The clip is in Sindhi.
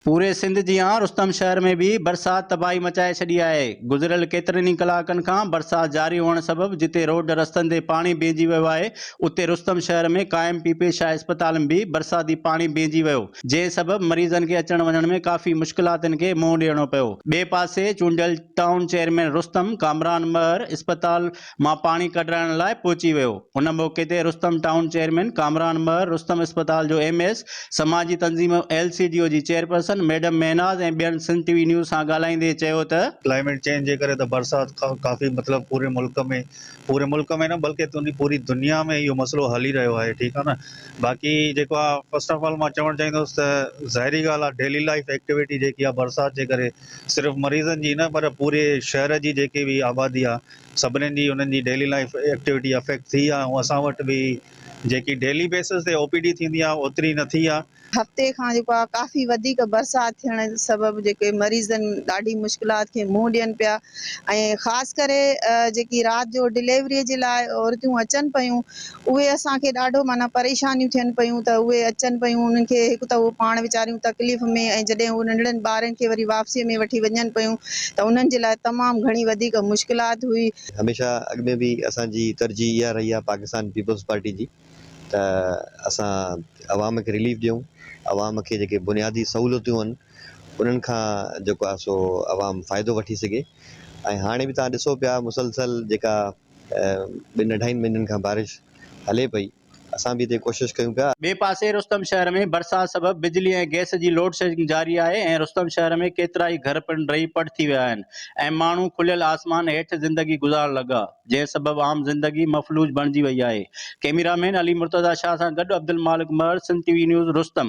پوري سنڌ جيان رستم شهر ۾ به برسات تباهي مچائي ڇڏي آهي، گذريل ڪيترن ئي ڪلاڪن کان برسات جاري هئڻ سبب جتي روڊ رستن تي پاڻي بيهجي ويو آهي اتي رستم شهر ۾ قائم پي پي شاهه اسپتال ۾ به برساتي پاڻي بيهجي ويو جنهن سبب مريضن کي اچڻ وڃڻ ۾ ڪافي مشڪلاتن کي منهن ڏيڻو پيو ٻئي پاسي چونڊيل ٽائون چيئرمين رستم ڪامران مهر اسپتال مان پاڻي ڪڍرائڻ لاء پهچي ويو. ان موقعي تي رستم ٽائون چيئرمين ڪامران مهر، رستم اسپتال جو ايم ايس، سماجي تنظيم ايل سي ڊي او جي چيئرپرسن ميڊم مهناز ۽ ٻين سنڌ ٽي وي نيوز سان ڳالهائيندي چيو ته، ڪلائميٽ چينج جي ڪري ته برسات ڪافي مطلب پوري ملڪ ۾ پوري ملڪ ۾ نه بلڪه تنهن پوري دنيا ۾ اهو مسئلو هلي رهيو آهي ٺيڪ آهي نه باقي جيڪو آ فسٽ آف آل مان چوڻ چاهيندس ته ظاهري ڳالهه آ ڊيلي لائيف ايڪٽيوٽي جيڪي آ برسات جي ڪري صرف مريضن جي نه پر پوري شهر جي جيڪي به آبادي آ سڀني جي انهن جي ڊيلي لائيف ايڪٽيوٽي افيڪٽ ٿي آهي ۽ اسان وٽ به جيڪي ڊيلي بيسز تي او پي ڊي ٿيندي آهي اوتري نه ٿي آهي. هفتي کان جيڪو آهي ڪافي وڌيڪ برسات ٿيڻ سبب جيڪي مريضن ڏاڍي مشڪلات کي منهن ڏين پيا ۽ خاص ڪري جيڪي رات جو ڊليوري جي لاء عورتيون اچن پيون اهي اسان کي ڏاڍو معنيٰ پريشانيون ٿين پيون ته اهي اچن پيون انهن کي هڪ ته اهو پاڻ ويچاريون تڪليف ۾ ۽ جڏهن اهي ننڍڙن ٻارن کي وري واپسيء ۾ وٺي وڃن پيون ته انهن جي لاء تمام گهڻي وڌيڪ مشڪلات هئي. هميشه اڳ ۾ به اسان جي ترجيح اها رهي آهي پاڪستان پيپلز پارٽي جي ته اسان عوام کي رليف ڏيون عوام کي جيڪي بنيادي سهولتون آهن انهن کان جيڪو آهي سو عوام فائدو وٺي سگهي ۽ هاڻي به توهان ڏسو پيا مسلسل جيڪا ٻن اڍائين مهينن کان بارش هلي پئي، اسان به هتي ڪوشش ڪيون پيا. ٻئي پاسي رستم شهر ۾ برسات سبب بجلي ۽ گئس جي لوڊشيڊنگ جاري آهي ۽ رستم شهر ۾ ڪيترائي گهر پڻ ڊهي پٽ ٿي ويا آهن ۽ ماڻهو کليل آسمان هيٺ زندگي گذارڻ لڳا جنهن سبب عام زندگي مفلوج بڻجي وئي آهي ڪئميرا مين علي مرتضيٰ شاهه سان گڏ عبدالمالڪ مهر سنڌ ٽي وي نيوز رستم.